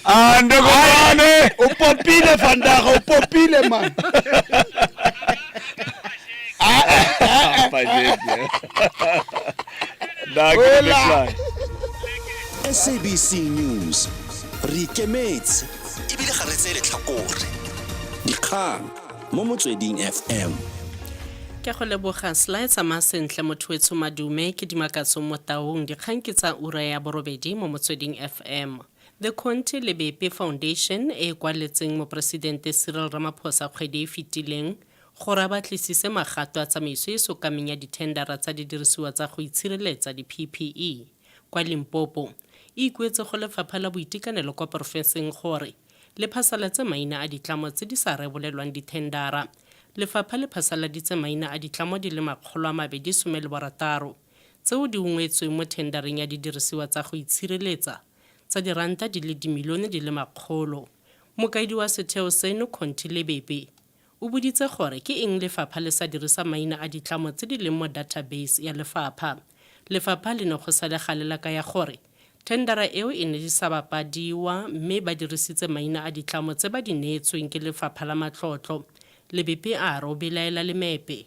Ah, ndogo bane. o popile fandaga o popile man Wela. sabc news re ikemetse ebile ga re tseye letlhakore dikgang mo motsweding fm ke go leboga sly tsamaya sentle motho wetsho madume ke dimakatso mo taung dikgang ke tsa ura ya borobedi mo motsweding fm the conte lebepe foundation e e kwaletseng moporesidente cyril ramaphosa kgwedi e fetileng gore a batlisise magato a tsamaiso e sokameng ya dithendara tsa didirisiwa tsa go itshireletsa di-ppe Kwa Limpopo, e ikuetse go Lefapha la Boitekanelo kwa porofenseng gore le phasalatse maina a ditlamo tse di sa rebolelwang dithendara. Lefapha le phasaladitse maina a ditlamo di le makgolo a mabedi some le borataro tseo di ungwetsweng mo thendareng ya didirisiwa tsa go itshireletsa tsa diranta di le dimilione di le makgolo. Mokaedi wa setheo seno, Conty Lebepe, O boditse gore ke eng lefapha le sa dirisa maina a ditlamo tse di leng mo data base ya lefapha. Lefapha le ne go sa le gale la kaya gore thendara eo e ne di sa bapadiwa mme ba dirisitse maina a ditlamo tse ba di neetsweng ke lefapha la matlotlo, Lebepe a re o belaela lemepe.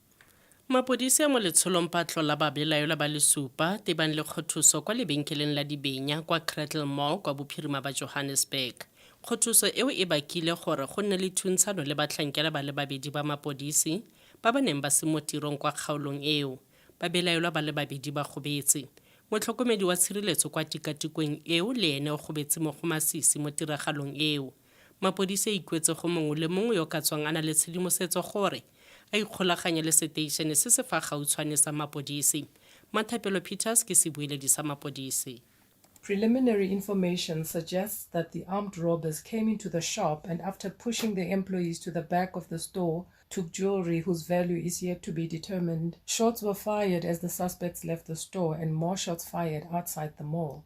Mapodisi a mo letsholong ba tlola babelaelwa ba le supa tebang le kgothuso kwa lebenkeleng la dibenya kwa Cradle Mall kwa bophirima ba Johannesburg. Kgothuso eo e bakile gore go nne le thuntshano le batlhankela ba le babedi ba mapodisi ba ba neng ba se mo tirong kwa kgaolong eo. Babelaelwa ba le babedi ba gobetse. Motlhokomedi wa tshireletso kwa tikatikweng eo le ene o gobetse mo go masisi mo tiragalong eo. Mapodisi a ikuetse go mongwe le mongwe yo ka tswang a na le tshedimosetso gore a ikgolaganye le seteišene se se fa gautshwane sa mapodisi. Mathapelo Peters ke sebueledi sa mapodisi. Preliminary information suggests that the armed robbers came into the shop and after pushing the employees to the back of the store took jewelry whose value is yet to be determined. Shots were fired as the suspects left the store and more shots fired outside the mall.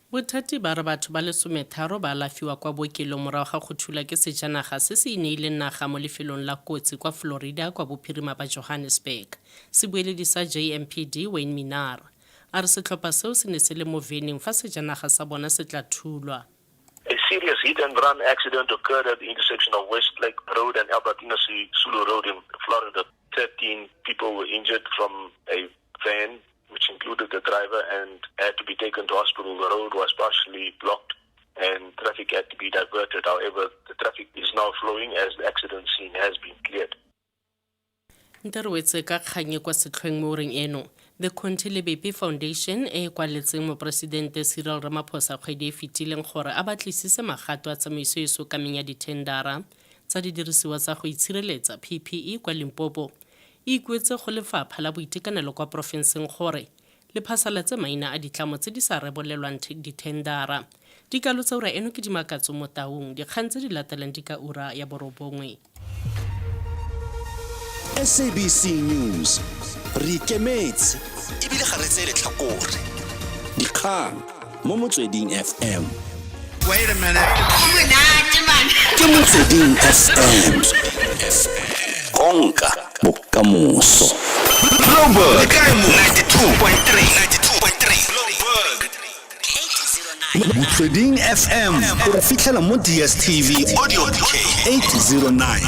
Bothati ba re batho ba le sometharo ba alafiwa kwa bookelong morago ga go thulwa ke sejanaga se se ineileng naga mo lefelong la kotsi kwa Florida kwa bophirima ba Johannesburg. Sebueledi sa JMPD, Wayne Minnaar, a re setlhopha seo se ne se le mo veneng fa sejanaga sa bona se tla thulwa. A serious hit and run accident occurred at the intersection of Westlake Road and Albertina Sisulu Road in Florida. Thirteen people were injured from a van which included the driver, and had to be taken to hospital. The road was partially blocked and traffic had to be diverted. However, the traffic is now flowing as the accident scene has been cleared. nte re wetse ka kgang e kwa setlhweng mo oreng eno the conti lebepe foundation e e kwaletseng moporesidente cyril ramaphosa kgwedi e fetileng gore a batlisise magato a tsamaiso e sokameng ya dithendara tsa didirisiwa tsa go itshireletsa ppe kwa limpopo e ikuetse go lefapha la boitekanelo kwa porofenseng gore le phasalatse maina a ditlamo tse di sa rebolelwang dithendara. Dikalo tsa ura eno ke di makatso mo taung. Dikgang tse di latelang di ka ura ya borobongwe. SABC News, re ikemetse ebile ga re tseye letlhakore. Dikgang. mo motsweding fm Wait a minute. ke motsweding fm konka bokamoso Bloomberg. 92.3. motsweding fm o re fitlhela mo dstv audio 809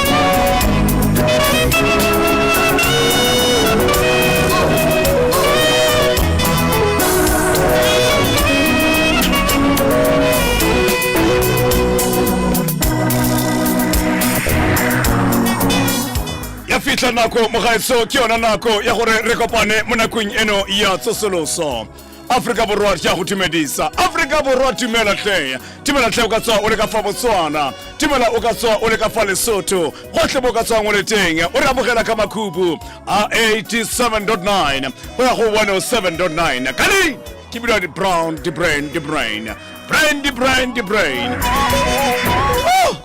ya fitlha nako mogaetso ke yona nako ya gore re kopane mo nakong eno ya tsosoloso aforika borwa ke a go tumedisa aforika borwa tumela tlheya tumela tlhe o ka tswa o le ka fa botswana tumela o ka tswa o le ka fa lesotho gotlhe bo ka tswang o le teng o re amogela ka makhubu a 87.9 go ya go 107.9 kane ke bidwa di-brown di-brain di-brain brain di-brain di-brain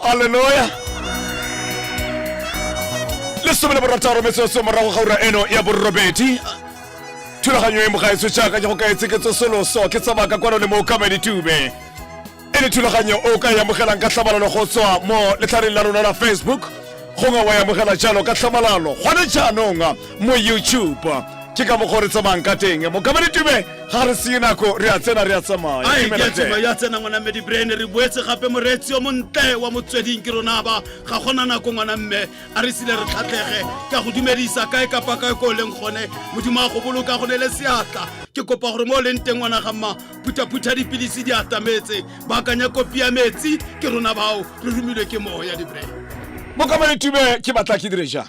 alleluya lesome le borataro metsotso morago ga ura eno ya borobedi thulaganyo e mogaetso jaaka go ka etseketso soloso ke tsabaka kwano le mo kamedi tube e le thulaganyo o ka e amogelang ka tlhamalalo go tswa mo letlhareng la rona la facebook gongwe wa e amogela jalo ka tlhamalalo gone jaanong mo youtube ke ka mokgwa re tsamayang ka teng mokamedi tube ga re seye nako re a tsena re a tsamaya Ai, Dumela ke tseba tle. ya tsena ngwana mme dibrain re boetse gape moreetsi yo montle wa motsweding ke rona ba ga gona nako ngwana mme a re sile re tlhatlhege ka go dumedisa kae kapa kae ko o leng gone modimo a go boloka go ne le seatla ke kopa gore mo o leng teng ngwana ga mma phuthaphutha dipilisi di atametse baakanya kopi ya metsi ke rona bao re romilwe ke moo ya dibre mokamane tube ke batla ke dire jang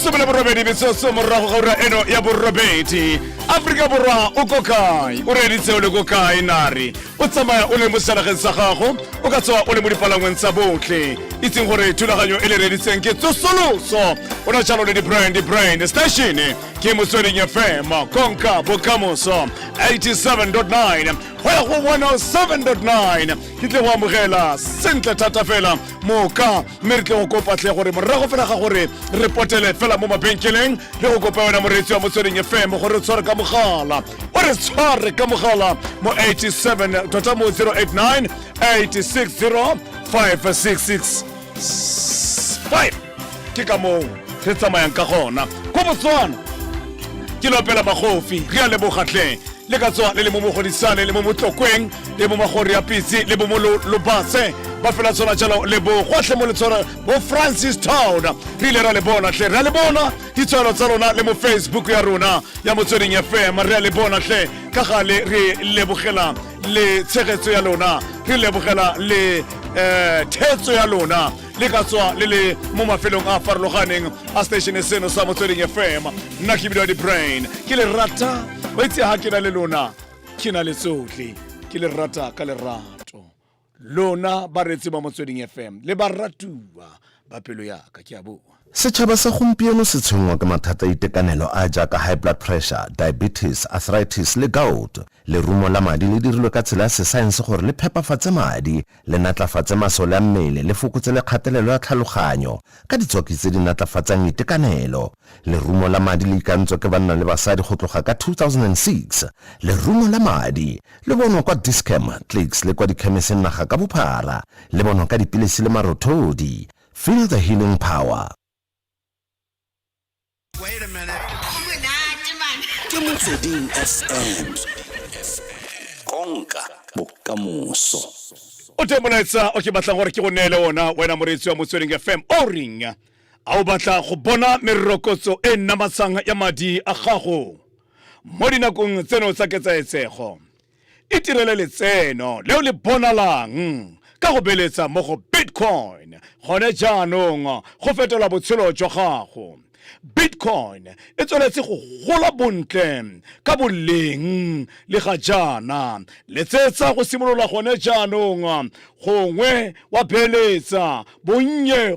lesome la borobedi metsotso morago ga ura eno ya borobedi aforika borwa o ko kae o reeditse o le ko kae nare o tsamaya o le mo selegeng sa gago o ka tsoa o le mo dipalangweng tsa botlhe itseng gore thulaganyo e le reeditseng ke tsosoloso o na jalo le di-brand di-brand station Kimusoni FM, Konka, Bokamoso, 87.9, hoya go 107.9. Ke tle go amogela sentle thata fela moka mme re tle go kopa tle gore morago fela ga gore re potele fela mo mabenkeleng le go kopa wena moreetsi wa motsweding fm gore re tshware ka mogala o re tshware ka mogala mo 87 tota mo 089 860 566 five ke ka moo re tsamayang ka gona ko botswana ke lopela magofi re a lebogatleng le ka tswa le le mo mogodisane le mo motlokweng le mo magori ya pitse le bo mo lo- lobatse ba fela tshwana jalo le bo gotlhe mo le tshwana bo francis town re ile ra le bona tlhe re a le bona ditshwano tsa rona le mo facebook ya rona ya motsweding fm re a le bona tlhe ka gale re lebogelang le tshegetso ya lona re lebogela le um thetso ya lona le ka tswa le le mo mafelong a farologaneng a station seno sa motsweding fm nna ke bidiwa di-brain ke le rata o itse ga ke na le lona ke na le tsotlhe ke le rata ka lerato lona bareetsi ba motsweding fm le baratuwa ba pelo yaka ke a boa Setšhaba sa gompieno se tshwenngwa ke mathata a itekanelo a a jaaka high blood pressure, diabetes, arthritis le gout. Lerumo la madi le dirilwe ka tsela ya sesaense gore le phepafatse madi, le natlafatse masole a mmele, le fokotse le kgatelelo ya tlhaloganyo ka ditswaki tse di natlafatsang itekanelo. Lerumo la madi le ikantswa ke banna le basadi go tloga ka 2006. Lerumo la madi le bonwa kwa Dis-Chem, Clicks le kwa dikhemeseng naga ka bophara. Le bonwa ka dipilisi le marothodi. Feel the healing power. Ke Motsweding FM. Konka bokamoso. o teng molaetsa o ke batlang gore ke go neele ona wena moreetsi wa motsweding fm o reng A o batla go bona merokotso e namatsang ya madi a gago mo dinakong tseno tsa ketsaetsego? Itirele letseno le o le bonalang ka go beeletsa mo go Bitcoin gone jaanong go fetola botshelo jwa gago. Bitcoin e tsweletse go gola bontle ka boleng le ga jaana. Letsetsa go simolola gone jaanong gongwe wa beeletsa bonnye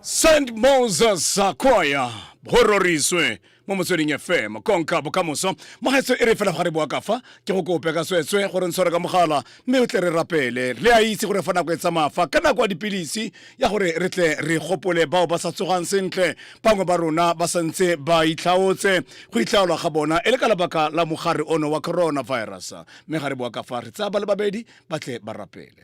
St. Moses Choir go roriswe mo motsweding fm konka bokamoso mogaetso e re fela ga re boa kafa ke go kope ka tswetswe gore ntshware ka mogala mme o tle re rapele re a itse gore fa nako e tsamaya fa ka nako ya dipilisi ya gore re tle re gopole bao ba sa tsogang sentle bangwe ba rona ba santse ba itlhaotse go itlhaolwa ga bona e le ka lebaka la mogare ono wa coronavirus mme ga re boa kafa re tsaya ba le babedi ba tle ba rapele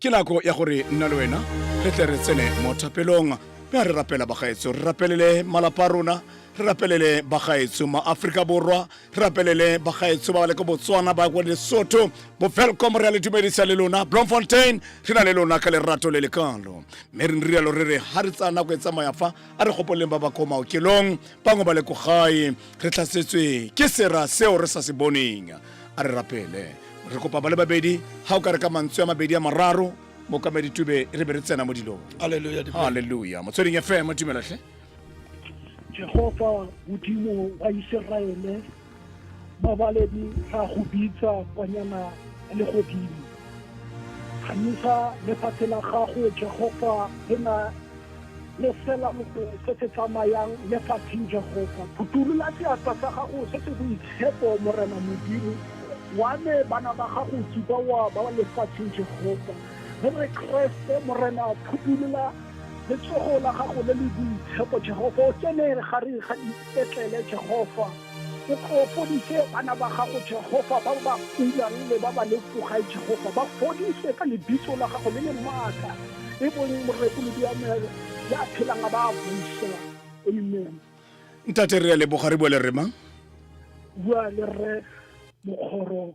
ke nako ya gore nna le wena re tle re tsene mo thapelong mme a re rapela bagaetso re rapelele malapa a rona re rapelele bagaetso maaforika borwa re rapelele bagaetso ba ba le ko botswana ba kwa lesotho bofelcom re a le dumedisa le lona blomfontein re na le lona ka lerato le lekalo mme re nrialo re re ga re tsaya nako e tsamaya fa a re gopoleng ba ba ko maokelong bangwe ba le ko gae re tlhasetswe ke sera seo re sa se boneng a re rapele re kopa ba le babedi ga o ka re ka mantswe a mabedi a mararo mokamedi tube re be re tsena mo dilong Hallelujah. Dipelo. halleluja motsweding fm tumelatlhe Jehova Modimo wa Iseraele mabaledi ra go bitsa kwanyana le godimo ganisa lefatshe la gago Jehova le na le fela motong se se tsamayang le fatheng jehofa phutolola seatla sa gago se se boitshepo morena modimo wa me bana ba gago tsuba wa ba lefatsheng jehofa re re kreste morena phutolola letsogo la gago le le boitshepo jehofa o tsene gare ga dipetlele jehofa O tlo fodise bana ba gago Jehofa ba ba kulang le ba ba le tlogae Jehofa ba fodise ka lebitso la gago le le maatla e bong morekolodi wa moya ya phelang a ba a busa amen ntate re a leboga re bua le rre mang bua le rre mokgoro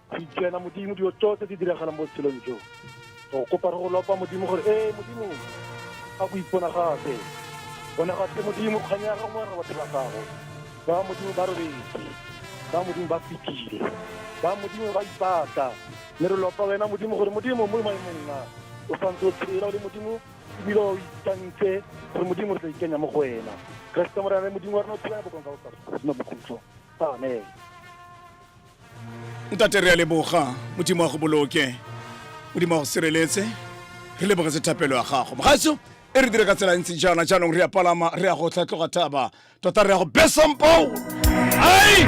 tsena modimo dilo tsotlhe di diragalang mo tshelong jo o kopa re go lopa modimo gore ee modimo ga go ipona gape bona ga tle modimo kgang ya gago mo re batho ba gago ba modimo ba robetse ba modimo ba fetile ba modimo ba ipata mme re lopa wena modimo gore modimo mo maemong a o santse o tshela o le modimo ebile o itantse gore modimo re tla ikenya mo go wena keresete morena le modimo wa rena o tshela bokonka o sa seno bokhutlo amen ntate re a leboga modimo wa go boloke modimo wa go sireletse re lebogetse thapelo ya gago mogaso e re dire ka tsela ntse jaana jaanong re ya palama re ya go tlhatloga thaba tota re ya go besampao ai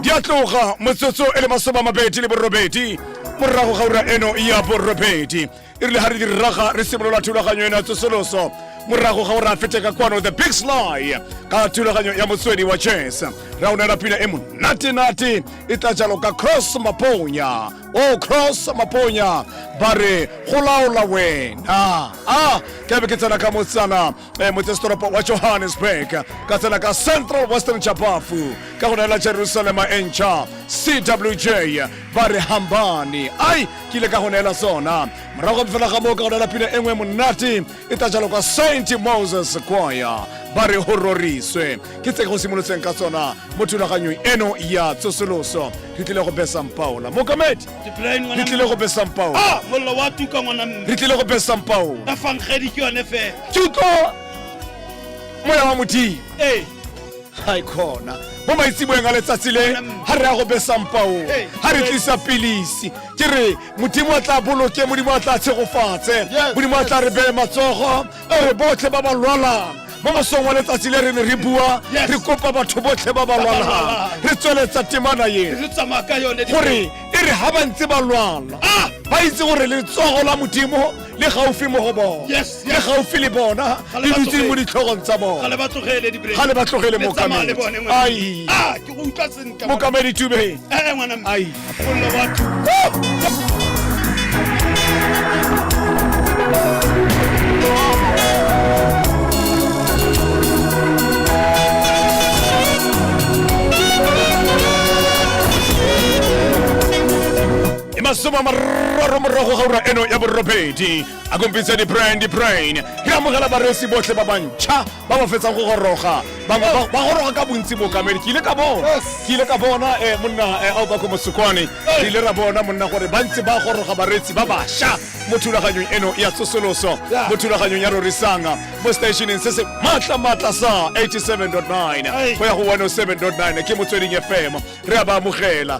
di a tloga motsotso e le masoma a mabedi le borobedi morago ga ura eno ya borobedi e rile ga re diraga re simolola thulaganyo ena tsosoloso morago ga gore a fete ka kwano the big sly ka thulaganyo ya motswedi wa chess ra onela pina e monatenate e tla jalo ka cross maponya o cross maponya ba re go laola wena a ke be ke tsena ka motsana e motsesetoropo wa johannesburg ka tsela ka central western chapafu ka go neela jerusalema e ntšha cwj ba re hambane ai ke ile ka go neela sona morago ga fela ga moo ka go neela pina e nngwe monate e tla jalo kwa saint moses kwaya ba re go roriswe ke tse go simolotseng ka tsona mo thulaganyong eno ya tsosoloso re tlile go besampaola mokamedi Dipolaeng ngwana re tlile go besang pao Ah, mollo wa tuka ngwana mme. re tlile go besang pao Ka fa nkgedi ke yone fela. tuko moya wa modimo Ee. ga e kgona mo maitseboeng a letsatsi le ga re ya go besang pao Hey. ga re tlisa pilisi ke re modimo a tla boloke modimo a tla tshegofatse Yes. modimo a tla re beye matsogo re botlhe ba ba lwalang mo mosong wa letsatsi le re ne re bua Yes. re kopa batho botlhe ba ba lwalang lwalang. re tsweletsa temana e re tsamaya ka yone di- gore e re ga ba ntse ba lwala Ah! ba itse gore letsogo la modimo le gaufi mo go bona Yes, le yes. gaufi le bona Ga le le ba dutse mo tlogele. ditlhogong tsa ga bona le ba tlogele di-break. ga le ba tlogele Le tsamaya le bone mokamedi ngwena. ai Ah, o utlwa sentle mokamedi tube ee ngwana mme ai follo batho e masoma mararo morago ga ura eno ya borobedi a kompitse di-brine di-brine re amogela baresi botlhe ba bantšha ba ba fetsang go goroga bangwe ba- ba goroga ka bontsi bokamedi ke ile ka bona ke ile ka bona eh, monna eh, aobako mosokwane re ile ra bona monna gore ba ntse ba goroga bareetsi ba basha mo thulaganyong eno ya tsosoloso mo thulaganyong ya rorisanga mo stationeng se se maatla-maatla sa 87.9 go ya go 107.9 ke motsweding fm re a ba amogela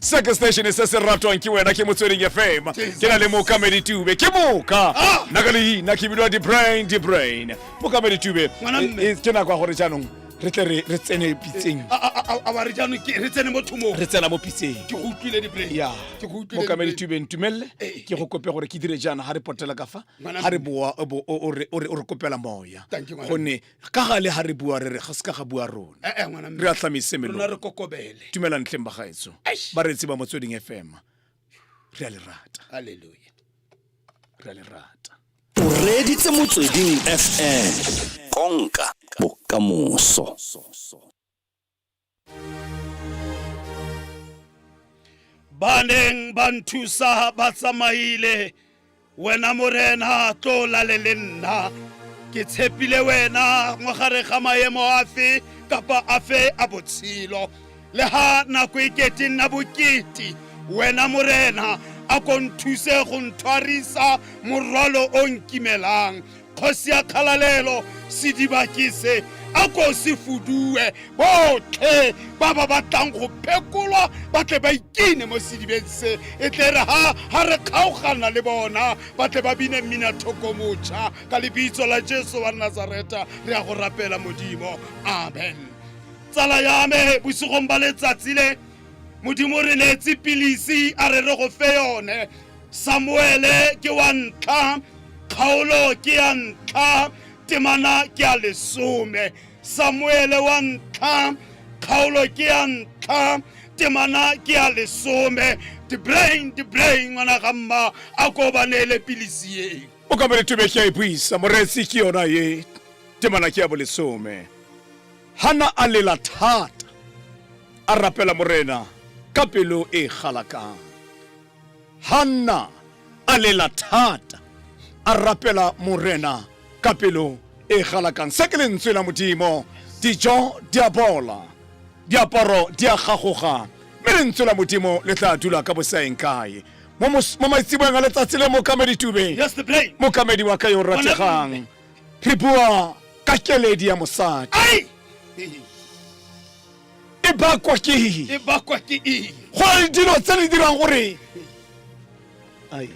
se ke station se se ratwang ke wena ke motsweding fm ke na le mokamedi tube ke moka Ah! nna ka leina ke bidiwa debrain debrain mokamedi tube Ngwana mme. e- e- ke nako ya gore jaanong re tle re re tsene pitseng A- a- a- a wa re jaanong ke re tsene mo thomong re tsena mo pitseng ke go utlwile diplay ya ke go utlwile mokamedi diplay. tube ntumelele Eh. ke go kope gore ke dire jaana ga re potela ka fa Ngwana ga re mme. boa o bo- o- o re- o re o re kopela moya Thank you, ngwana gonne ka gale ga re bua re re ga se ka ga bua rona Eh, eh, ngwana mme. re a tlhamise Rona re melo kokobele tumela ntleng bagaetso Eish. ba reetse ba motsweding fm re a le rata halleluja re a le rata o reeditse motsweding fm konka bokamoso ba neng ba nthusa ba tsamaile wena morena tlo lale le nna ke tshepile wena mo gare ga maemo afe kapa afe a botshelo le ha nako e kete nna bokete wena morena a ko nthuse go nthwarisa morwalo o nkimelang Kgosi ya kgalalelo sediba ke se a ko se fudue botlhe ba ba batlang go phekolwa ba tle ba ikine mo sedibeng se e tle re ha ha re kgaogana le bona ba tle ba bine mmina thokomotšha ka lebitso la jesu wa nazareta re ya go rapela modimo amen tsala ya me bosigong ba letsatsi le modimo re neetse pilisi a re re go fe yone samuele ke wa ntlha kgaolo ke ya ntlha temana ke ya lesome samuele wa ntlha kgaolo ke ya ntlha temana ke ya lesome dibrain dibrain ngwana ga mma a ko ba neele pilisi eo o ka mare tubeke ya e buisa moreetsi ke yona ye temana ke ya bolesome Hana a lela thata, a rapela Morena ka pelo e e galakang. Hanna a lela thata, a rapela Morena ka pelo e e galakang. Se ke lentswe la Modimo, dijo di a bola, diaparo di a gagoga, mme lentswe la Modimo le tla dula ka bosaeng kae? Mo mos- mo maitseboeng a letsatsi le mokamedi Tube, Yes, the blame. mokamedi wa ka yo o rategang re bua ka keledi ya mosadi ai e bakwa ke e bakwa ke eng gore dilo tse di dirang gore ai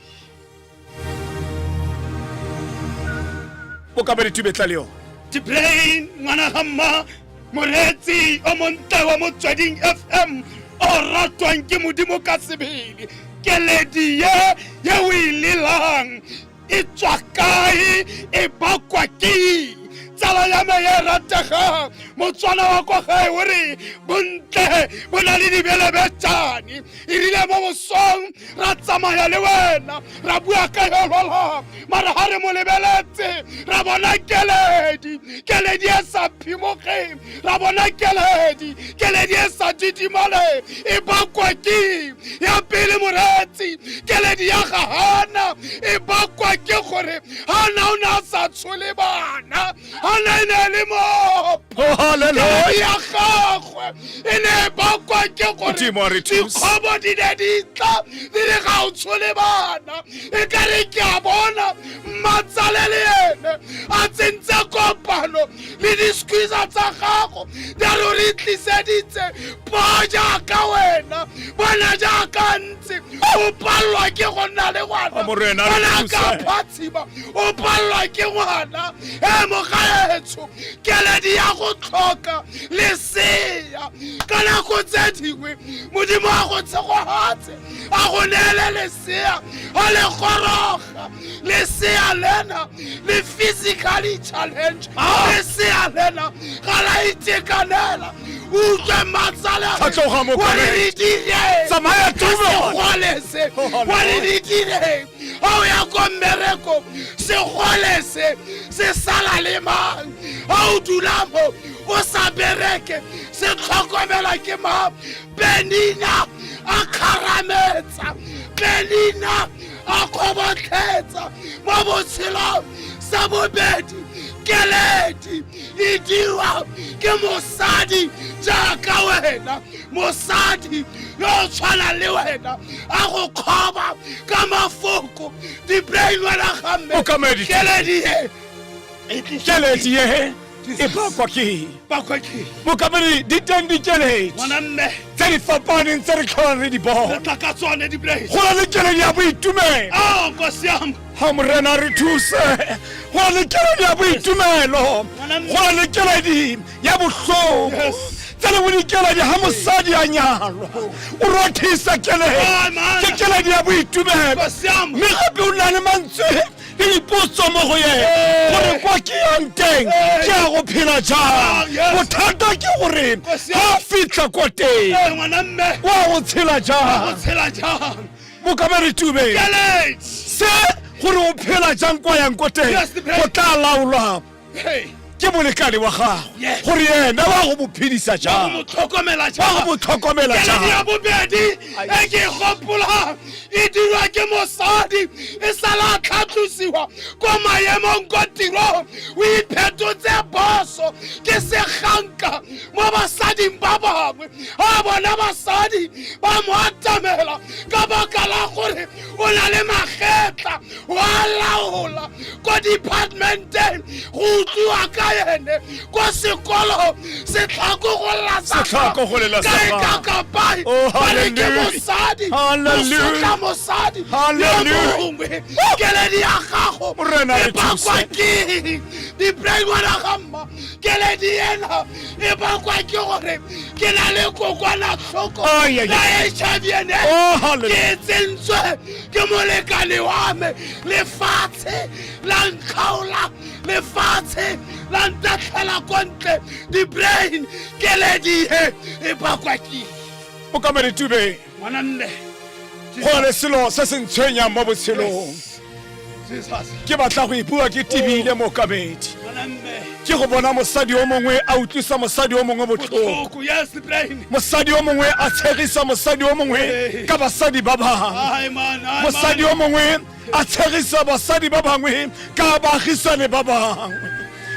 o ka be ditubetla le yone dibrain ngwana ga mma moreetsi o montle wa motsweding fm o ratwang ke modimo ka sebele keledi ye ye o e lelang e tswa kae e bakwa ke tsala ya me ya rategang motswana wa kwa gae o re bontle bo na le dibelebetsane e rile mo bosong ra tsamaya le wena ra bua ka yolwala mara ga re mo lebeletse ra bona keledi keledi e sa phimogeng ra bona keledi keledi e sa didimale e bakwa ke ya pele moretsi keledi ya ga hana e bakwa ke gore hana o ne a sa tshole bana hana e ne le mopo oh, ya gagwe e ne e bakwa ke gore dikgobo di ne di tla di re ga o tshole bana e ka re ke a bona mmatsalele ene a tsentse kopano le disquisa tsa gago di a lo re tliseditse bo jaaka wena bona jaaka ntse o palelwa ke go nna le ngwana bona ka phatshima o palelwa ke ngwana e mogaetsho keledi ya go tlhoka leseya ka nako tse dingwe modimo wa go tshegogatse a go neele leseya a le goroga leka lesea lena le physically challenge ah! lesea lena ga la itekanela utlwe matsalaatlhoga mokoretsamaya segolese gore di direng ga o ya ko mmereko segolese se sala le mang ga o dula mo o sa bereke se tlhokomela ke mang benina a kgarametsa benina a kgobotlhetsa mo botshelong sa bobedi keledi e dirwa ke mosadi jaaka wena mosadi yo o tshwanang le wena a go kgoba ka mafoko dibrainwana gamme keledi e keledi e e bakwa ke bakwa ke mokamedi di teng dikeletso ngwanamme tse di fapaneng tse re tlholang re di bona re tla ka tsone dipoledi go na le keledi ya boitumelo a kwa siamo ga morena re thuse go na le keledi ya boitumelo go na le keledi ya botlhoko tse le bodikeledi ga mosadi a nyalwa o rothisa keledi ke keledi ya boitumelo mme gape o na le mantswe ke dipotso mo go ene gore kwa ke yang teng ke ya go phela jang bothata ke gore ga a fitlha kwa teng wa go tshela jang mokamere tube se gore o phela jang kwa yang ko teng go tla laolwa ke molekane wa gagwe gore ena wa go mophedisa jang wa go motlhokomela jangya bobedi e ke gopolang e dirwa ke mosadi e sala tlhatlosiwa ko maemong ko tirong o iphetotse boso ke seganka mo basading ba bangwe a bona basadi ba mo atamela ka baka la gore o na le magetla wa laola ko departmenteng go utlwiwa ka ene ko sekolo setlhako go Setlhako go lela kae sapa. ka kapai Oh, ba re ke hallelujah. mosadi Hallelujah. mosotla mosadi yo Hallelujah. mongwe keledi ya gago Morena re e bakwa thuse. ke diplaingwana ga mma keledi ena e bakwa ke gore ke na le kokwanatlhoko Ai, ai, ya ai. hiv and Oh, hallelujah. ke tsentswe ke molekane wa me lefatshe la nkgaola lefatshe la ntatlhela ko ntle di-brain keledihe e bakwa ke o ka meritube ngwananne go na le selo se se ntshwenyang mo botshelong ke batla go ipiwa ke tibile mokamedi ke go bona mosadi o mongwe a utlwisa mosadi o mongwe botlhoko mosadi o mongwe a tshegisa mosadi o mongwe ka basadi ba bangwe mosadi o mongwe a tshegisa basadi ba bangwe ka baagisane ba bangwe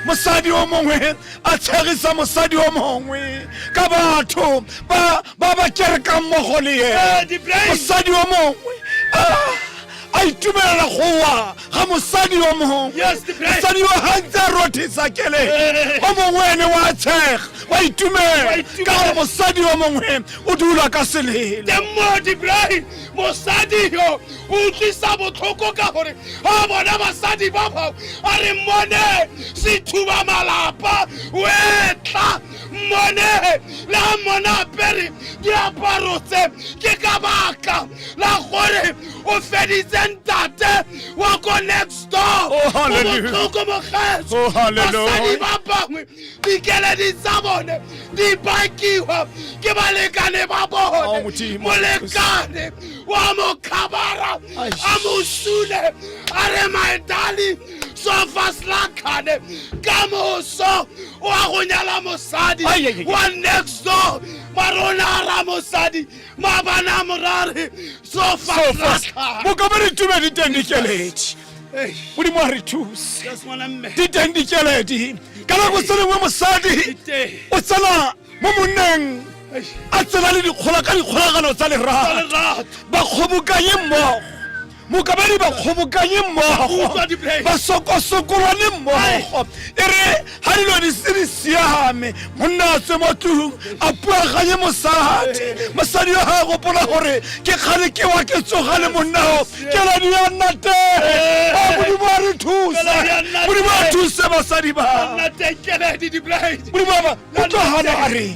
mosadi o mongwe a tshegisa mosadi o mongwe ka batho ba ba kerekang mmogo le ene mosadi o mongwe ah! a itumelela go wa ga mosadi yo mongwe Yes, the great. mosadi yo gantse a rothisa kele Eh. o mongwe ene wa tshega wa Wa itumela itumela. ka gore mosadi yo mongwe o dula ka selele teng mo dibrae mosadi yo o utlwisa botlhoko ka gore a bona basadi ba bao a re mmone sethuba malapa o etla mmone le a mmone apere diaparo tse ke ka baka la gore o feditse ntate wa ko next door Oh, hallelujah. botlhoko mogetso Oh, hallelujah. basadi ba bangwe dikeledi tsa bone di bakiwa ke balekane ba Oh, bone Modimo. molekane wa mokhabara Aish. a mo sule a re my darling sofa slakane ka moso wa go nyala mosadi Ai, ai, ai. wa next door marona a ra mosadi Mabana morare so fast. Boka ba re tume di teng dikeledi. Modimo a re thuse. Di teng dikeledi. Ka nako tse dingwe mosadi o tsena mo monneng a tsena le dikgola ka dikgolagano tsa lerato ba kgobokanye mmogo mokabadi ba kgobokanye mmogo ba sokosokolwane mmogo e re ga dilo di se di siame monna a tswe mo tlung a puaganye mosadi mosadi yo ga a gopola gore ke kgale ke wa ke tsoga le monnao ke ladi ya nna teng a modimo a re thusa modimo a thuse basadi ba modimo a ba o tlo gana a reng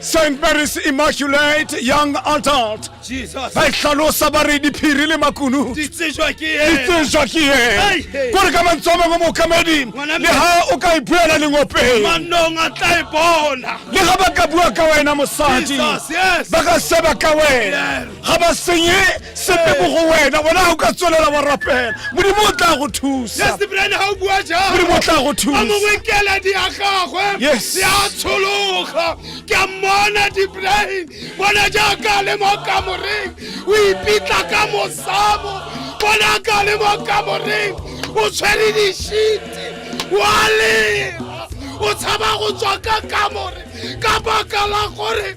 St. Mary's Immaculate Young Adult Jesus. ba e tlhalosa ba re diphiri le makunu Di tsejwa ke ena. ditsejwa ke Hey, ene hey. kore ka mantswe a mangwe mookamedi Ngwana le ha o ka e buela lengopeng Manong a tla e bona. le ga ba ka bua ka wena mosadi Jesus, yes. ba ka seba ka wena Yes. ga ba senye sepe mo go wena bona ga o ka tswelela wa rapela modimo o tla go thusa Yes, Brian, ha o bua jalo. modimo o tla go A thusa mongwe keledi ya gagwe Yes. ya tshologa ke a mmona dibrain bona jaaka a le mo kamoreng o ipitla ka mosamo bona a ka le mo kamoreng o tshwere dishiti wa lela o tshaba go tswa ka kamore ka baka la gore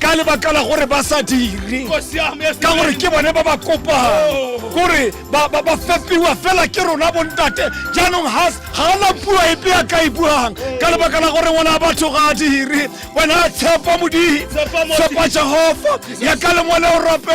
ka lebaka la gore ba sa dire ka gore ke bone ba ba kopang oh. gore ba fepiwa fela ke rona bontate jaanong ga ana puo epe ya ka e buang oh. ka lebaka la gore ngwana batho ga a dire wena a tshepa modimo tshepa jehofa ya ka lengwele o rope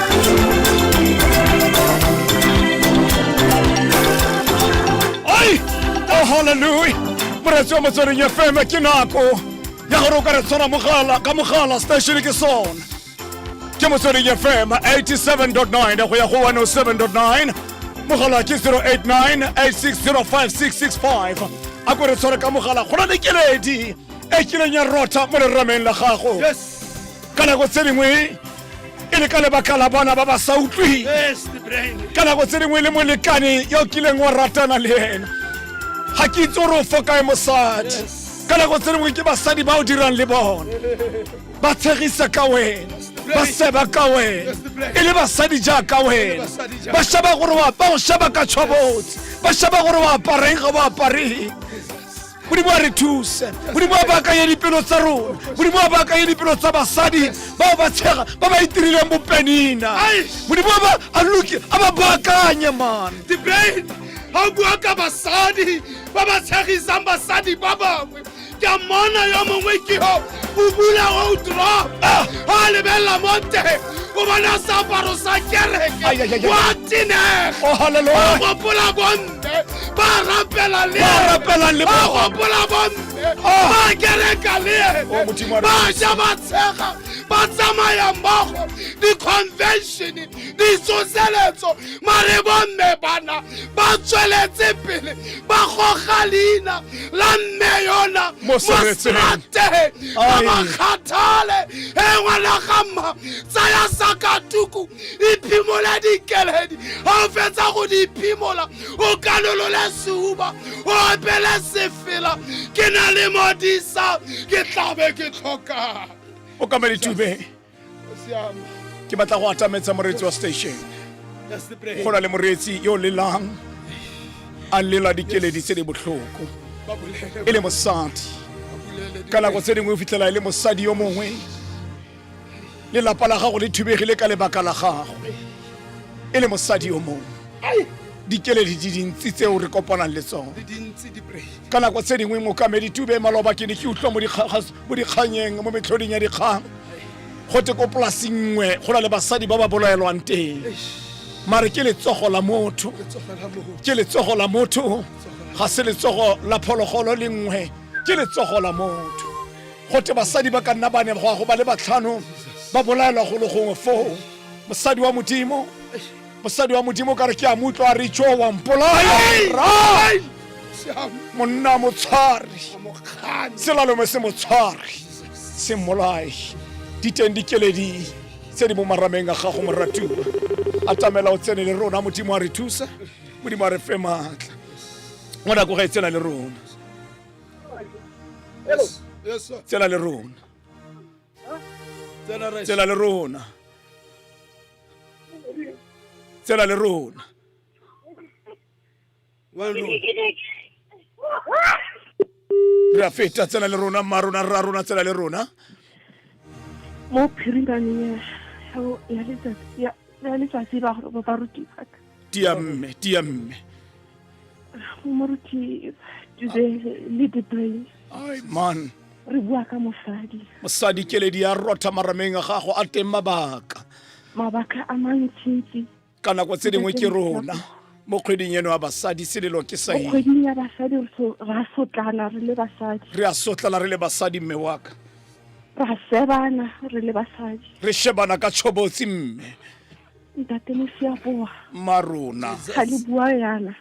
Ay! Oh, hallelujah! Moratsi wa motsweding ya fm ke nako ya gore o ka re tshwara mogala ka mogala station ke sone ke motsweding ya fm 87.9 go ya go 107.9 mogala ke 0898605665 a ko re tshware ka mogala go na le keledi e kileng ya rotha mo lerameng la gago Yes. ka nako tse dingwe e le ka lebaka la bona ba ba sa utlwi ka nako tse dingwe le molekane yo kileng wa ratana le ena ga ke itse gore o fokae mosadi ka nako tse dingwe ke basadi ba o dirang le bona ba tshegisa ka wena ba seba ka wena e le basadi jaaka wena ba shaba gore ba o shaba ka tshwabotse ba shaba gore o apareng ga o apareng modimo a re thuse modimo a baakanye dipelo tsa rona modimo a baakanye dipelo tsa basadi bao ba tshega ba ba itirileng bopenina modimo a ba baakanye mane ga o bua ka basadi ba ba tshegisang basadi ba bangwe ke a mmona yo mongwe ke o bula outro ah! a lebelela mo teng o bona seaparo sa kereke wa tenega oh, gopola bomme ba rapelagopola bomme ah! ba kereka le oh, ene ba ja ba tshega ba tsamaya mmogo di-convention ditsoseletso mare bomme bana ba tsweletse pele ba goga leina la mme yona mosrateng ba ba kgathale e ngwana ga mma tsaya sakatuku iphimola dikeledi ga o fetsa go di iphimola o kanolole seuba o opele sefela ke na le modisa ke tlabe ke tlhokang o ka ba ditube ke batla go atametsa moreetsi wa station go na le moreetsi yo lelang a lela dikeledi tse di botlhoko e le mosadi ka nako tse dingwe o fitlhela e le mosadi yo mongwe lelapa la gago le thubegile ka lebaka la gagwe e le mosadi yo mongwe dikeledi di dintsi tseo re kopanang le tsone ka nako tse dingwe mokamedi tube maloba ke ne ke utlwa mo mo dikganyeng mo metlhoding ya dikgang go te ko polasing nngwe go na le basadi ba ba bolaelwang teng mare ke letsogo la motho ke letsogo la motho ga se letsogo la phologolo le nngwe ke letsogo la motho go te basadi ba ka nna ba ne go ba le batlhano ba bolaelwa golo gongwe foo mosadi wa modimo mosadi wa modimo o ka re ke a mo utlwa a re tso wa mpolaya ra monna mo tshware selalome se mo tshware se mmolae diteng dikeledi tse di mo marameng a gago moratiwa a tamela o tsene le rona modimo a re thusa modimo a re fe maatla mo nako ga e tsela le rona tsela le rona tsela le rona tsela le rona re a feta tsela le rona mma rona rra rona tsela le rona mo phirimane ya letsatsi ba barutiwa tia mme tia mme moruti today le debray ai man re bua ka mosadi mosadi keledi ya rotha marameng a gago a teng mabaka mabaka a mantsintsi ka nako tse dingwe ke rona mo kgweding eno ya basadi selelo ke sa mo eng kgweding ya basadi re so- ra sotlana re le basadi re a sotlana re le basadi mme waka ra sebana re le basadi re shebana ka tshobotsi mme ntate mosiaboa mma rona ga le bua yana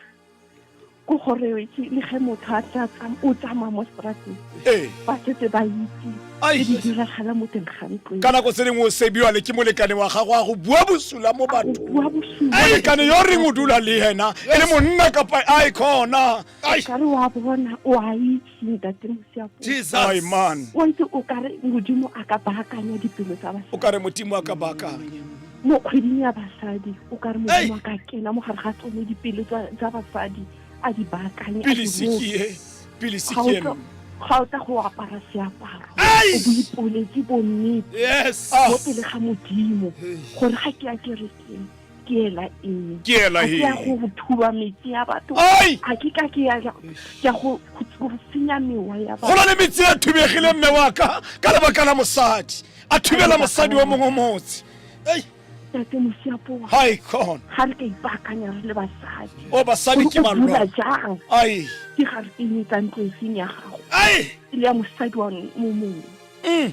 ko gore le ge motho a tla o tsamaya mo strateng ee. ba setse ba itse e di diragala mo teng ga ntlo ka nako tse dingwe o sebiwa le ke molekane wa gago a go bua bosula mo bathobua bosuamolekane yo reng o dula le ena e le monna kapa a e khona kare wa bona o a itse ntate mosiapo my Jesus. man wa itse o ka re modimo a ka baakanya dipelo tsa o basadi ka re modimo a ka baakanya mo kgweding ya basadi o ka re Hey! modimo a ka kena mo gare ga tsone dipelo tsa tsa basadi a di baakanye a di pilisi roke. ke e pilisi Ga o ke tla- eno ga o tla go apara seaparo Hey! o boipoletse bonnete yes mo pele ga modimo gore ga ke a kerekeng ke ela eng ke ela eng ya go thuba metsi ya batho ga ke ka ke ya ya go go senya mewa ya batho go na le metsi a thubegile mme wa ka ka lebaka la mosadi a thubela mosadi wa mongwe motse ei tate mosiapo wa hai con ga re ka ipaakanya re le basadi o basadi ke malwa jang ai ke ga re teng tsa ntlo e seng ya gago ai e le ya mosadi wa mongwe mm.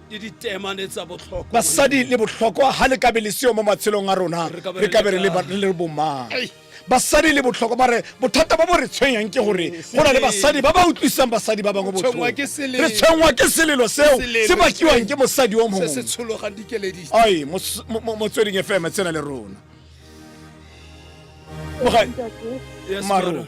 le ditemane tsa botlhokwa basadi le botlhokwa ga le kabe le seo mo matshelong a rona re kabe re le bomang basadi le botlhokwa ba re bothata ba bo re tshwenyang ke gore go na le basadi ba ba utlwisang basadi ba bangwe botlhoko re tshwenngwa ke selelo seo se bakiwang ke mosadi o mongwe ai motsweding fm tsena le rona marona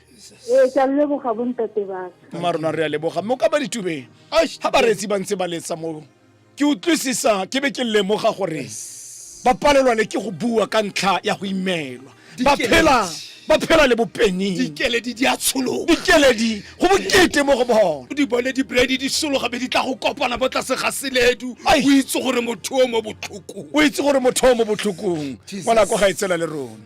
ee ke a leboga bontate baka ma rona re a leboga mme o ka ba ditubeng ga bareetsi ba ntse ba letsa mo ke utlwisisa ke be ke lemoga gore ba palelwa le ke go bua ka ntlha ya go imelwa ba phela ba phela le bopening dikeledi di a tshologa dikeledi go bokete mo go bona di bone dibredi di sologa be di tla go kopana bo tlase ga seledu o itse gore motho o mo botlhokong o itse gore motho o mo botlhokong ngwana ko ga e tsela le rona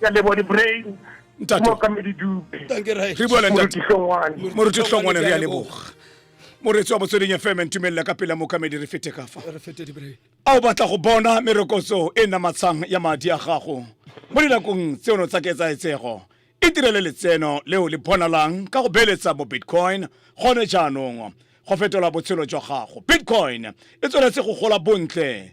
ke a leboga di-brain Ntate. mokamedi dube Dankie, Rai. re bua le ntate moruti hlongwane moruti hlongwane re a leboga moretsi wa motsweding fm ntumelela ka pela mokamedi re fete ka fa Re fete di-brain. a o batla go bona merokotso e namatshang ya madi a gago mo dinakong tseno tsa ketsaetsego e direle letseno leo le bonalang ka go beeletsa mo bitcoin gone jaanong go fetola botshelo jwa gago bitcoin e tsweletse go gola bontle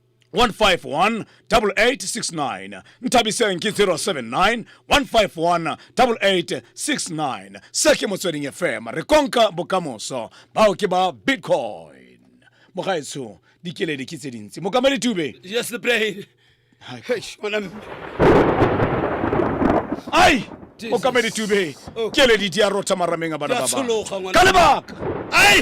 151 8869 nthabiseng ke 079 151 8869 se ke motsweding fm re konka bokamoso bao ke ba bitcoin mogaetsho dikeledi ke tse dintsi mokamedi tube yes the brain ai mokamedi tube keledi di a rotha marameng a bana ba bangwe. ka lebaka ai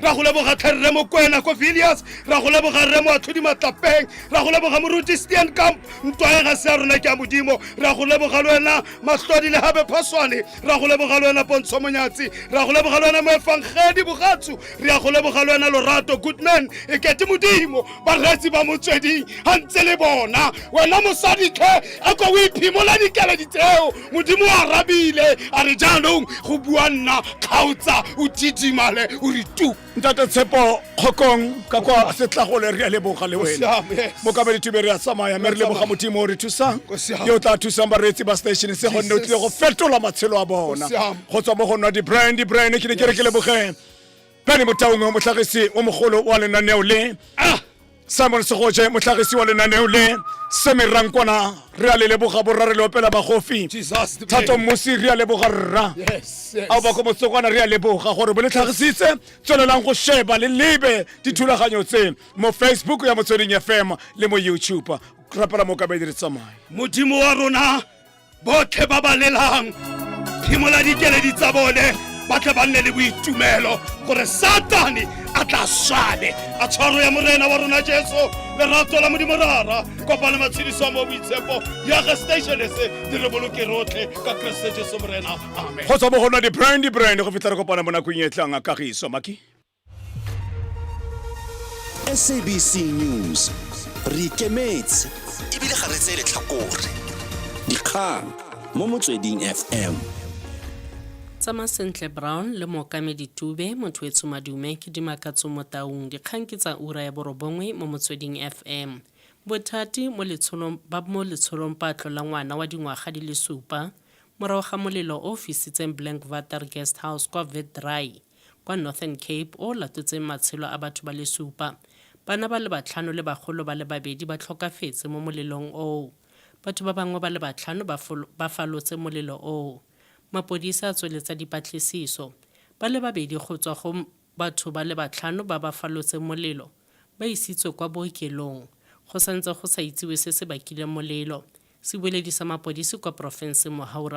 ra go leboga tlhe rre mokwena ko villiers ra go leboga rre moatlhodi matlapeng ra go leboga moruti stian camp ntwae ga se ya rona ke ya modimo ra go leboga le wena matlhodi le gabe phaswane ra go leboga le wena pontsho monyatsi ra go leboga le wena moefangedi bogatsu re ya go leboga le wena lorato goodman e kete modimo baretsi ba motsweding ga ntse le bona wena mosaditlhe a ko o iphimola dikeledi tseo modimo o arabile a re jaanong go bua nna kgaotsa o thidimale o re tu ntate tshepo kgokong ka kwa setlagole re a leboga le wena mokabedi tube re a tsamaya mme re leboga modimo o re thusang yo o tla thusang bareetsi ba station se gonne o tlile go fetola matshelo a bona go tswa mo go nwa di-brand di-brand ke ne ke re ke lebogeng Penny Motaung motlhagisi o mogolo wa lenaneo le ah! Simon Segoje motlhagisi wa lenaneo le Semi Rankwana re a le leboga borra re le opela bagofi Thato Mmusi re a leboga rra ao bako motsokwana re a leboga gore bo le tlhagisitse tswelelang go sheba le lebe dithulaganyo tse mo Facebook ya Motsweding FM le mo YouTube rapela mo kabedi re tsamaya modimo wa rona botlhe ba ba lelang phimola dikeledi tsa bone ba tle ba nne le boitumelo gore satane a tla swabe a tshwaro ya morena wa rona jesu lerato la modimo rara kopane matshediso mo boitshepo ya ga station se di re boloke rotlhe ka keresete jesu morena amen go tswa mo go nwa di-brand di-brand go fitlha re kopana mo nakong e tlang a kagiso maki SABC News re ikemetse ebile ga re tseye letlhakore dikgang mo motsweding FM tsama sentle brown le mookamedi tube motho etsho madume ke dimakatso mo taung dikgang ke tsa ura ya borobongwe mo motsweding fm bothati mo letsholong ba mo letsholong patlo la ngwana wa dingwaga di le supa morago ga molelo o fisitseng blank vater guest house kwa vetdry kwa Northern Cape o latotseng matshelo a batho ba le supa. Bana ba le batlhano le bagolo ba le babedi ba tlhokafetse mo molelong oo. Batho ba bangwe ba le batlhano ba ba falotse molelo oo. Mapodisi a tsweletsa dipatlisiso. Ba le babedi go tswa go batho ba le batlhano ba ba falotseng molelo ba isitswe kwa bookelong. Go santse go sa itsiwe se se bakileng molelo. Sebueledi sa mapodisi kwa porofenseng Mohaura.